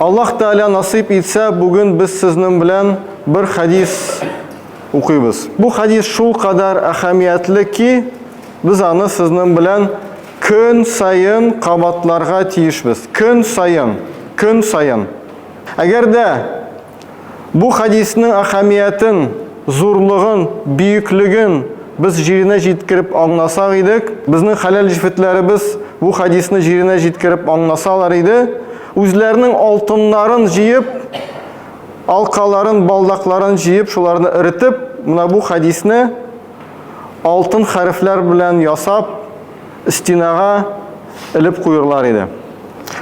Аллаһ Тәгалә насыйп итсә, бүген без сезнең белән бер хәдис укыйбыз. Бу хәдис шул кадәр әһәмиятле ки, без аны сезнең белән көн саен кабатларга тиешбез. Көн саен, көн саен. Әгәр дә Бу хәдиснең әһәмиятен, зурлыгын, бөеклеген без җиренә җиткереп аңласак идек, безнең хәләл җефетләребез бу хәдисне җиренә җиткереп аңласалар иде, үзләренең алтыннарын җыеп, алкаларын, балдакларын җыеп, шуларны эретеп, менә бу хәдисне алтын хәрефләр белән ясап, стенага элеп куерлар иде.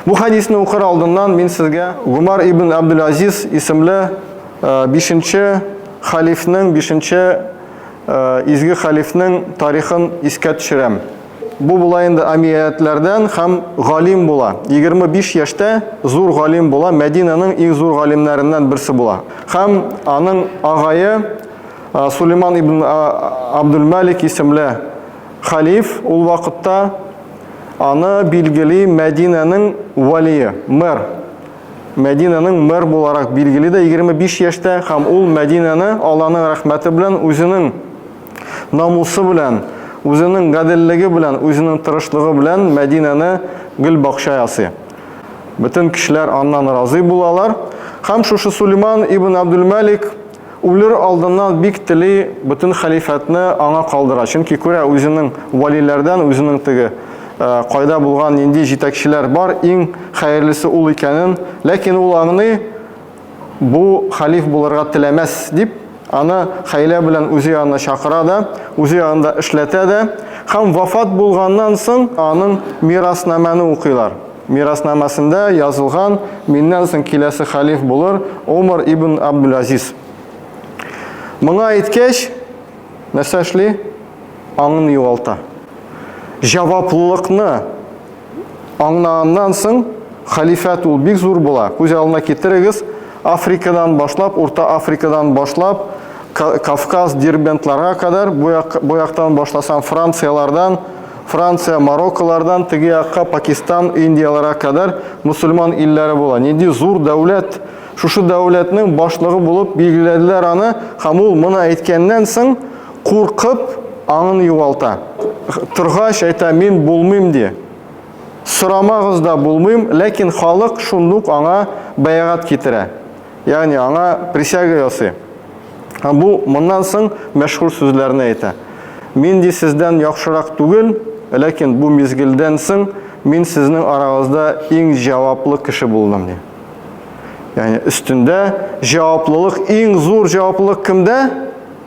Бу хәдисне укыр алдыннан мин сезгә Гумар ибн Абдул-Азиз исемле бишенче халифның, бишенче изге халифның тарихын искә төшерәм. Бу була инде амиятләрдән һәм галим була. 25 яшьтә зур галим була, Мәдинаның иң зур галимнәреннән берсе була. Һәм аның агае Сулейман ибн Абдул-Малик исемле Хәлиф ул вакытта аны билгели Мәдинәнең вәлие, мэр. Мәдинәнең мэр буларак билгели дә 25 яшьтә һәм ул Мәдинәне Алланың рәхмәте белән, үзенең намусы белән, үзенең гаделлеге белән, үзенең тырышлыгы белән Мәдинәне гөл бакча ясый. Бөтен кешеләр аннан разый булалар. Һәм шушы Сулейман ибн Абдулмәлик Үлер алдыннан бик тели бөтен хәлифәтне аңа калдыра, чөнки күрә үзенең вәлиләрдән үзенең теге кайда булган, нинди җитәкчеләр бар, иң хәерлесе ул икәнен, ләкин ул аңлый, бу хәлиф булырга теләмәс, дип, аны хәйлә белән үзе янына чакыра да, үзе янында эшләтә дә һәм вафат булганнан соң аның мираснамәне укыйлар. Мираснамасында язылган, Миннән соң киләсе хәлиф булыр Омар ибн Абдул-Азиз. Моңа әйткәч, нәрсә эшли? Аңын югалта. Җаваплылыкны аңнаганнан соң халифәт ул бик зур була. Күз алдына китерегез, Африкадан башлап, Урта Африкадан башлап, Кавказ, Дербентларга кадәр, бу яктан башласаң Францияләрдән, Франция, Марокколардан теге якка Пакистан, Индияләргә кадәр мусульман илләре була. Нинди зур дәүләт! Шушы дәүләтнең башлыгы булып билгеләделәр аны, һәм ул моны әйткәннән соң, куркып, аңын югалта. Торгач, әйтә, мин булмыйм, ди. Сорамагыз да, булмыйм, ләкин халык шундук аңа бәягать китерә. Ягъни аңа присяга ясый. Һәм бу моннан соң мәшһүр сүзләрне әйтә. Мин ди сездән яхшырак түгел, ләкин бу мизгелдән соң мин сезнең арагызда иң җаваплы кеше булдым ди. Ягъни өстендә җаваплылык, иң зур җаваплылык кемдә?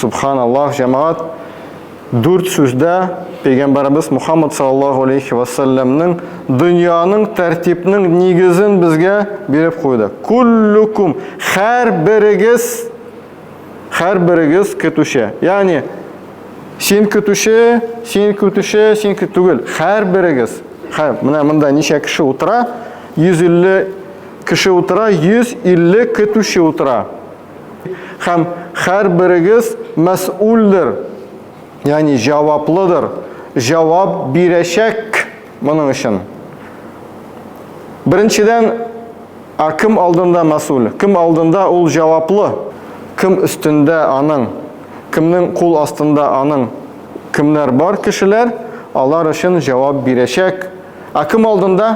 Субханаллах, җәмәгать, дүрт сүздә пәйгамбәребез Мухаммад саллаллаху алейхи ва салламның дөньяның тәртипнең нигезен безгә биреп куйды. Куллукум хәр берегез хәр берегез көтүче. Ягъни син көтүче, син көтүче, син түгел, хәр берегез. Хәр, менә монда ничә кеше утыра? 150 кеше утыра, 150 көтүче утыра. Һәм һәрберегез мәсьүлдер, ягъни җаваплыдыр, җавап бирәчәк моның өчен. Беренчедән, а кем алдында мәсьүл? Кем алдында ул җаваплы? Кем өстендә аның? Кемнең кул астында аның? Кемнәр бар кешеләр, алар өчен җавап бирәчәк. А кем алдында?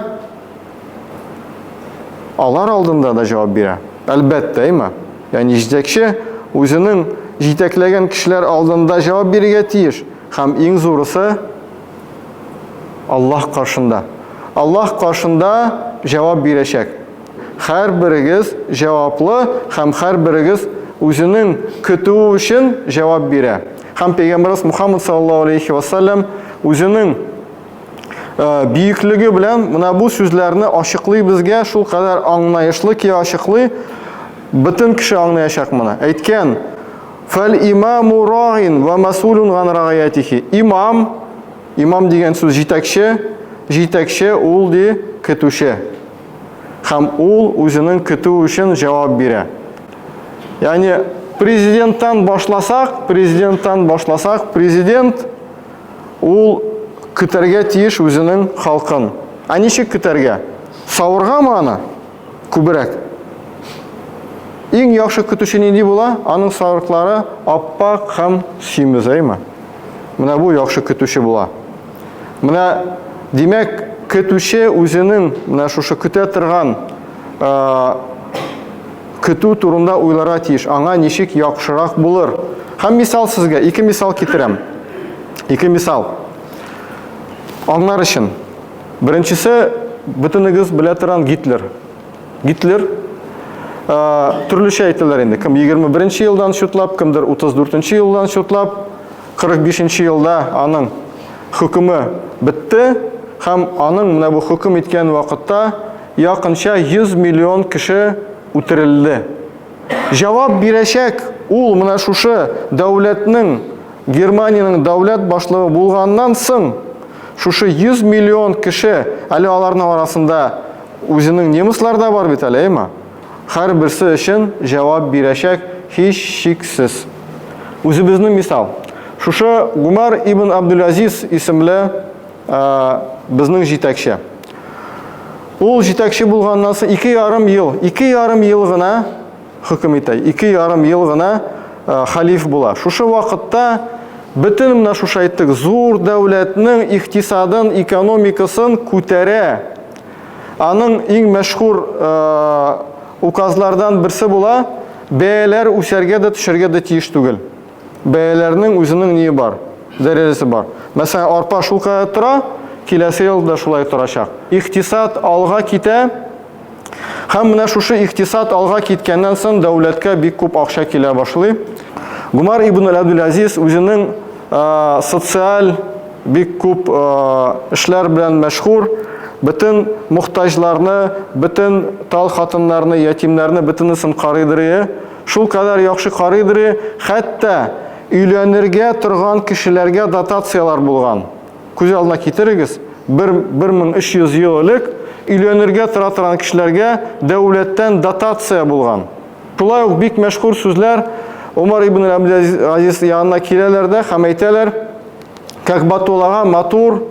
Алар алдында да җавап бирә. Әлбәттә, имә. Ягъни җитәкче үзенең җитәкләгән кешеләр алдында җавап бирергә тиеш. Һәм иң зурысы Аллаһ каршында. Аллаһ каршында җавап бирәчәк. Һәрберегез җаваплы һәм һәрберегез үзенең көтүе өчен җавап бирә. Һәм Пәйгамбәрбез Мухаммад саллаллаһу алейхи ва саллям үзенең бөеклеге белән менә бу сүзләрне ачыклый безгә шул кадәр аңлаешлы ки ачыклый бөтен кеше аңлаячак моны әйткән фәл имаму раин вә масулун ган рагаятихи имам имам дигән сүз җитәкче җитәкче ул ди көтүче һәм ул үзенең көтү өчен җавап бирә яғни президенттан башласак президенттан башласак президент Ул көтәргә тиеш үзенең халкын. Ә ничек көтәргә? Савыргамы аны? Күберәк. Иң яхшы көтүче нинди була? Аның сарыклары аппак һәм симез, әйме? Менә бу яхшы көтүче була. Менә, димәк, көтүче үзенең менә шушы көтә торган Көтү турында уйларга тиеш, аңа ничек яхшырак булыр. Һәм мисал сезгә, ике мисал китерәм. Ике мисал. Аңнар өчен. Беренчесе, бөтенегез белә торган Гитлер. Гитлер төрлечә әйтәләр инде. Кем 21 нче елдан шутлап, кемдер 34 нче елдан шутлап, 45 нче елда аның хөкеме бетте, һәм аның менә бу хөкем иткән вакытта Якынча 100 миллион кеше үтерелде. Җавап бирәчәк ул менә шушы дәүләтнең, Германиянең дәүләт башлыгы булганнан соң, шушы 100 миллион кеше, әле аларның арасында үзенең немыслар да бар бит әле, әйма? Һәрберсе өчен җавап бирәчәк һичшиксез. Үзебезнең мисал. Шушы Гумар ибн Абдул-Азиз исемле, ә, безнең җитәкче. Ул җитәкче булганнан соң ике ярым ел, ике ярым ел гына хөкем итә, ике ярым ел гына ә, халиф була. Шушы вакытта бөтен менә шушы әйттек, зур дәүләтнең икътисадын, экономикасын күтәрә. Аның иң мәшһүр ә, указлардан берсе була, бәяләр үсәргә дә төшәргә дә тиеш түгел. Бәяләрнең үзенең ние бар, дәрәҗәсе бар. Мәсәлән, арпа шулкадәр тора, киләсе ел да шулай торачак. Икътисад алга китә, һәм менә шушы икътисад алга киткәннән соң дәүләткә бик күп акча килә башлый. Гомар ибн аль-Абдул-Азиз үзенең социаль бик күп эшләр белән мәшһүр, бөтен мохтаҗларны, бөтен тал хатыннарны, ятимнәрне бөтенесен карыйдырые. Шулкадәр яхшы карыйдри, хәтта өйләнергә торган кешеләргә дотацияләр булган. Күз алдына китерегез, бер 1300 ел элек өйләнергә тора торган кешеләргә дәүләттән дотация булган. Шулай ук бик мәшһүр сүзләр Умар ибн Абдул-Азиз янына киләләр дә һәм әйтәләр, Как батулага матур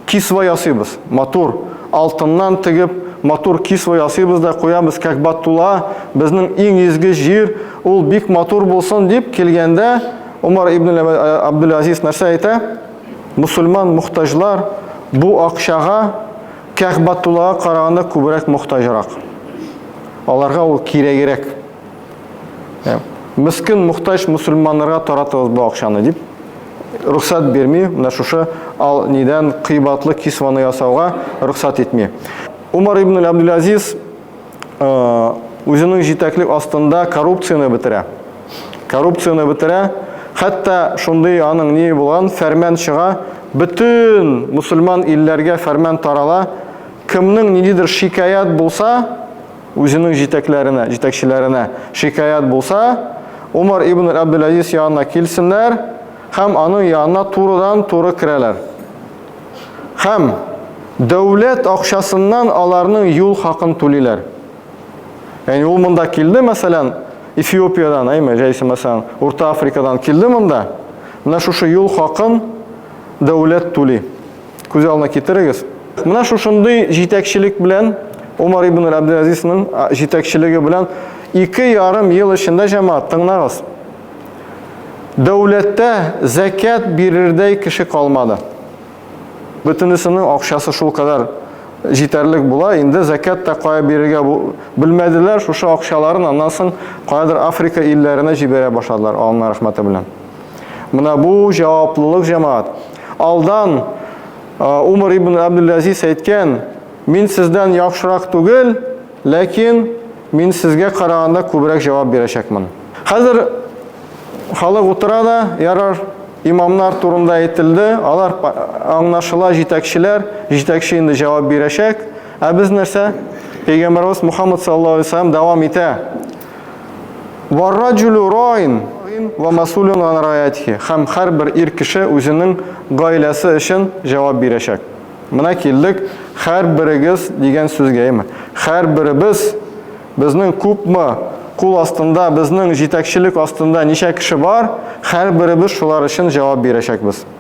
кисва ясыйбыз. Матур алтыннан тегеп, матур кисва ясыйбыз да куябыз как батула, безнең иң изге җир, ул бик матур булсын дип килгәндә, Умар ибн Абдул-Азиз нәрсә әйтә? Мусульман мохтаҗлар бу акчага как батулага караганда күбрәк мохтаҗрак. Аларга ул кирәгерәк. Ә, мескин, мохтаҗ мусульманнарга таратыгыз бу акчаны дип рөхсәт бирми, менә шушы ал нидән кыйбатлы кисваны ясауга рөхсәт итми. Умар ибн Абдул-Азиз э, үзенең җитәклек астында коррупцияне бетерә. Коррупцияне бетерә, хәтта шундый аның ни булган фәрман чыга, бөтен мусульман илләргә фәрман тарала, кемнең ниндидер шикаят булса, Үзенең җитәкләренә, җитәкчеләренә шикаять булса, Умар ибн Әбдел-Әзиз янына килсеннәр һәм аның янына турыдан-туры керәләр. Һәм дәүләт акчасыннан аларның юл хакын түлиләр. Ягъни ул монда килде, мәсәлән, Эфиопиядән, әйме, җәйсе, мәсәлән, Урта Африкадан килде монда, менә шушы юл хакын дәүләт түли. Күз алдына китерегез. Менә шушындый җитәкчелек белән Умар ибн Абдул-Азизның җитәкчелеге белән ике ярым ел эчендә җәмәгать тыңлагыз. Дәүләттә зәкят бирердәй кеше калмады. Бөтенесенең акчасы шул кадәр җитәрлек була, инде зәкят та кая бирергә белмәделәр, шушы акчаларын аннан соң каядыр Африка илләренә җибәрә башладылар, Аллаһның рәхмәте белән. Менә бу җаваплылык, җәмәгать. Алдан Умар ибн Абдул-Азиз әйткән, Мин сездән яхшырак түгел, ләкин мин сезгә караганда күбрәк җавап бирәчәкмен. Хәзер халык утыра да, ярар, имамнар турында әйтелде, алар аңнашыла җитәкчеләр, җитәкче инде җавап бирәчәк. Ә без нәрсә? Пәйгамбәрбез Мухаммад саллаллаһу алейһи ва сәлләм дәвам итә. Варраджулю роин ва масулюн анраятхи. Хәм хәр бер ир кеше үзенең гаиләсе өчен җавап бирәчәк. Менә килдек хәр берегез дигән сүзгә, әйеме? Хәр беребез, безнең күпме кул астында, безнең җитәкчелек астында ничә кеше бар, хәр беребез шулар өчен җавап бирәчәкбез.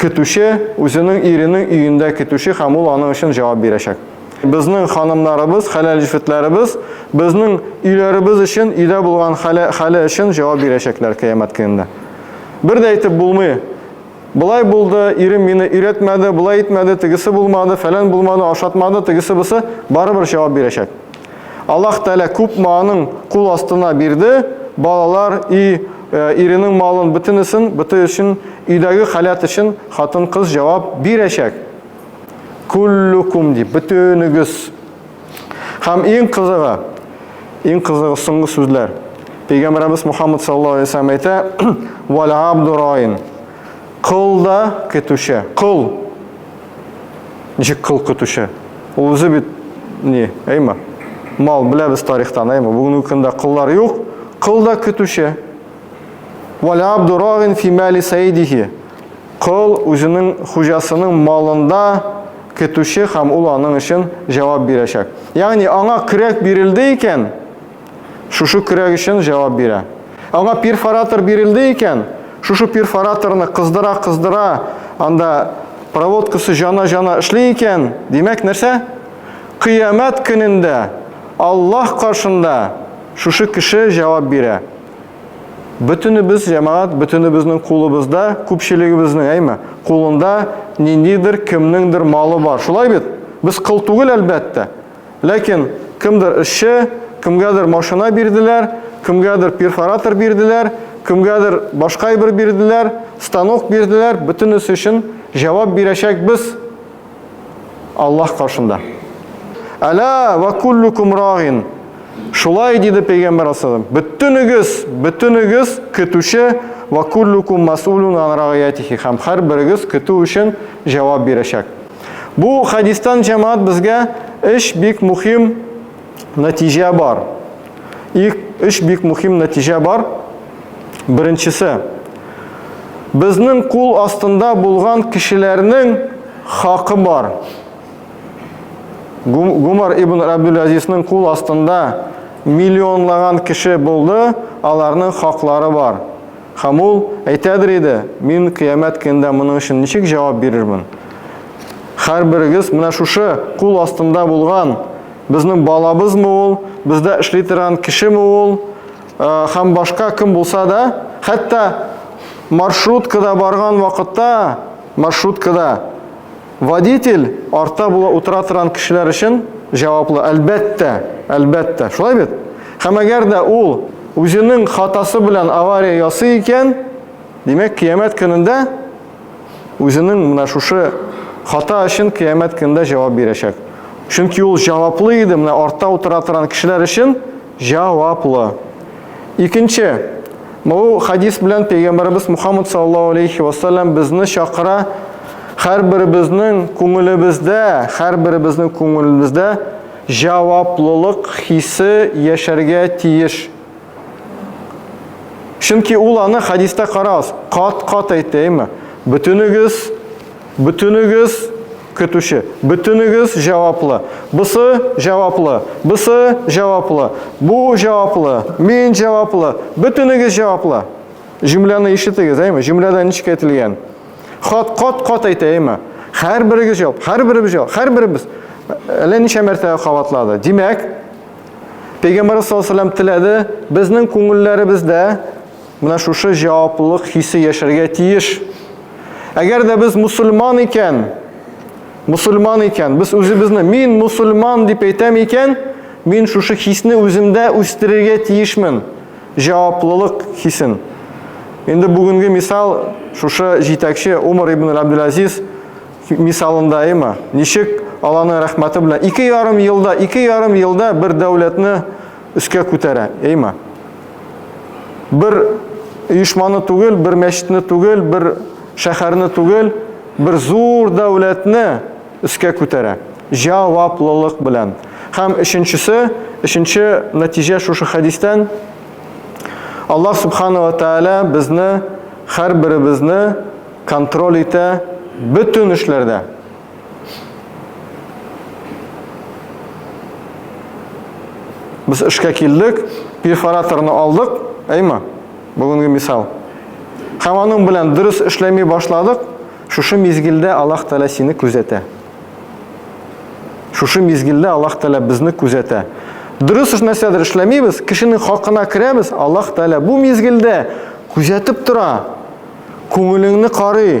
Көтүче үзенең иренең өендә көтүче һәм ул аның өчен җавап бирәчәк. Безнең ханымнарыбыз, хәләл җефетләребез безнең өйләребез өчен, өйдә булган хәле өчен җавап бирәчәкләр Кыямәт көнендә. Бер дә әйтеп булмый, Болай булды, ирем мине өйрәтмәде, болай итмәде, тегесе булмады, фәлән булмады, ашатмады, тегесе-бусы, барыбер җавап бирәчәк. Аллаһ Тәгалә күпме аның кул астына бирде, балалар, өй, иренең малын, бөтенесен, бөте өчен, өйдәге халәт өчен хатын-кыз җавап бирәчәк. Куллукум дип, бөтенегез. Һәм иң кызыгы, иң кызыгы соңгы сүзләр. Пәйгамбәрбез Мухаммад саллаллаһу алейһи ва саллям әйтә, "Вал абдураин". Кол да көтүче. Кол Ничек кыл көтүче? Ул үзе бит ни, әйме? Мал беләбез тарихтан, әйме? Бүгенге көндә кыллар юк, кыл да көтүче. Валя абдурагин фимали саидихи. Кыл үзенең хуҗасының малында көтүче һәм ул аның өчен җавап бирәчәк. Ягъни аңа көрәк бирелде икән, Шушы көрәк өчен җавап бирә. Аңа перфоратор бирелде икән, шушы перфораторны кыздыра-кыздыра, анда проводкасы җана-җана эшли икән, димәк, нәрсә? Кыямәт көнендә Аллаһ каршында шушы кеше җавап бирә. Бөтенебез, җәмәгать, бөтенебезнең кулыбызда, күпчелегебезнең, әйме, кулында ниндидер кемнеңдер малы бар. Шулай бит? Без кыл түгел, әлбәттә. Ләкин кемдер эшче, кемгәдер машина бирделәр, кемгәдер перфоратор бирделәр, кемгәдер башка әйбер бирделәр, станок бирделәр, бөтенесе өчен җавап бирәчәкбез Аллаһ каршында. Әла ва куллукум рагин. Шулай диде пәйгамбер асылым. Бөтенегез, бөтенегез көтүче ва куллукум масулун ан рагиятихи. Һәм һәрберегез көтү өчен җавап бирәчәк. Бу хәдистән җәмәгать безгә өч бик мухим нәтиҗә бар. Ик, өч бик мухим нәтиҗә бар. Беренчесе, безнең кул астында булган кешеләрнең хакы бар. Гумар ибн Абдул-Азизнең кул астында миллионлаган кеше булды, аларның хаклары бар. Һәм ул әйтәдер иде, Мин Кыямәт көнендә моның өчен ничек җавап бирермен? Һәрберегез менә шушы кул астында булган безнең балабызмы ул, бездә эшли торган кешеме ул, һәм башка кем булса да, хәтта маршруткада барган вакытта, маршруткада Водитель артта була утыра торган кешеләр өчен җаваплы, әлбәттә, әлбәттә. Шулай бит? Һәм әгәр дә ул үзенең хатасы белән авария ясый икән, димәк, кыямәт көнендә үзенең менә шушы хата өчен кыямәт көнендә җавап бирәчәк. Чөнки ул җаваплы иде, менә артта утыра торган кешеләр өчен Җаваплы. Икенче, бу хадис белән Пәйгамбәребез Мухаммад саллаллаһу алейхи ва саллям безне чакыра, һәрберебезнең күңелебездә, һәрберебезнең күңелебездә җаваплылык хисе яшәргә тиеш. Чөнки ул аны хадиста карагыз, кат-кат әйтә, әйме? Бөтенегез, бөтенегез Көтүче. Бөтенегез җаваплы. Бысы җаваплы. Бысы җаваплы. Бу җаваплы. Мин җаваплы. Бөтенегез җаваплы. Җөмләне ишетегез, әйме? Җөмләдә ничек әйтелгән? Хат, кат, кат әйтә, әйме? Һәрберегез җавап, һәрберебез җавап, һәрберебез. Әллә ничә мәртәбә кабатлады. Димәк, Пәйгамбәрбез саллаллаһу алейһи ва сәлләм теләде, безнең күңелләребездә Менә шушы җаваплылык хисе яшәргә тиеш. Әгәр дә без мусульман икән, мусульман икән, без үзебезне мин мусульман дип әйтәм икән, мин шушы хисне үземдә үстерергә тиешмен. Җаваплылык хисен. Инде бүгенге мисал шушы җитәкче Умар ибн Абдул-Азиз мисалында әйме? Ничек Аллаһның рәхмәте белән ике ярым елда, ике ярым елда бер дәүләтне өскә күтәрә, эйма. Бер оешманы түгел, бер мәчетне түгел, бер шәһәрне түгел, бер зур дәүләтне өскә күтәрә. Җаваплылык белән. Һәм өченчесе, өченче нәтиҗә шушы хәдистән Аллаһ субханала тәала безне һәрберебезне контроль итә бөтен эшләрдә. Без эшкә килдек, перфораторны алдык, әйме? Бүгенге мисал. Һәм аның белән дөрес эшләми башладык, шушы мизгелдә Аллаһ Тәгалә сине күзәтә. Шушы мизгелдә Аллаһ Тәгалә безне күзәтә. Дөрес нәрсәдер эшләмибез, кешенең хакына керәбез, Аллаһ Тәгалә бу мизгелдә күзәтеп тора. Күңелеңне карый.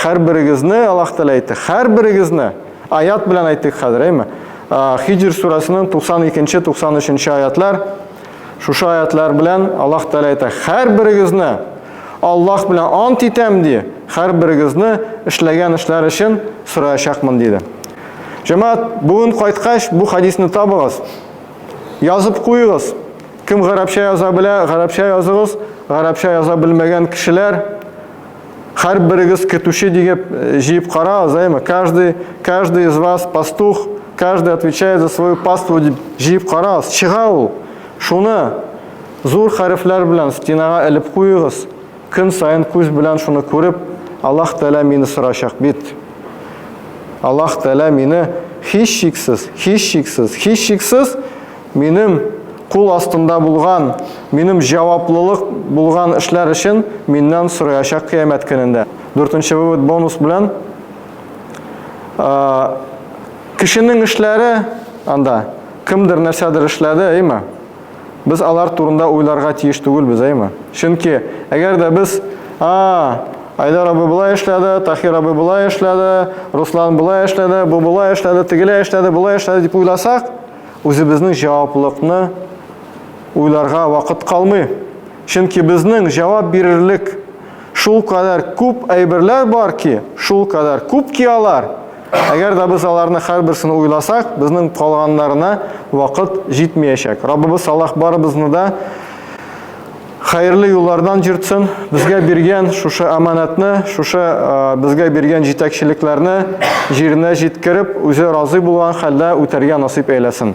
Хәрберегезне, Аллаһ Тәгалә әйтте, хәрберегезне аят белән әйтик хәзер, әйме? Хиҗр сүрәсенең 92-93 аятлар шушы аятлар белән Аллаһ Тәгалә әйтә, хәрберегезне Аллаһ белән ант итәм ди, хәрберегезне эшләгән эшләр өчен сораячакмын диде. Җәмәгать, бүген кайткач бу хадисны табыгыз. Язып куегыз. Кем гарәпчә яза белә, гарәпчә языгыз. Гарәпчә яза белмәгән кешеләр Хәр берегез көтүче дигеп җыеп кара азаймы? Каждый, каждый из вас пастух, каждый отвечает за свою паству дип җыеп карагыз. Чыга ул. Шуны зур хәрефләр белән стенага элеп куегыз. Көн саен күз белән шуны күреп, Аллаһ Тәгалә мине сорачак бит. Аллаһ Тәгалә мине һичшиксез, һичшиксез, һичшиксез Минем кул астында булган, минем җаваплылык булган эшләр өчен миннән сораячак кыямәт көнендә. Дүртенче вывод бонус белән. Кешенең эшләре анда кемдер нәрсәдер эшләде, әйме? Без алар турында уйларга тиеш түгелбез, әйме? Чөнки әгәр дә без, а, Айдар абый болай эшләде, Тахир абый болай эшләде, Руслан болай эшләде, бу болай эшләде, тегеләй эшләде, болай эшләде дип уйласак, Үзебезнең җаваплылыкны уйларга вакыт калмый. Чөнки безнең җавап бирерлек шул кадәр күп әйберләр бар ки, шул кадәр күп ки алар. Әгәр дә без аларны һәрберсен уйласак, безнең калганнарына вакыт җитмәячәк. Раббыбыз Аллаһ барыбызны да Хәерле юллардан җыртсын. Безгә биргән шушы аманатны, шушы безгә биргән җитәкчелекләрне җиренә җиткереп, үзе разый булган хәлдә үтәргә насыйп әйләсен.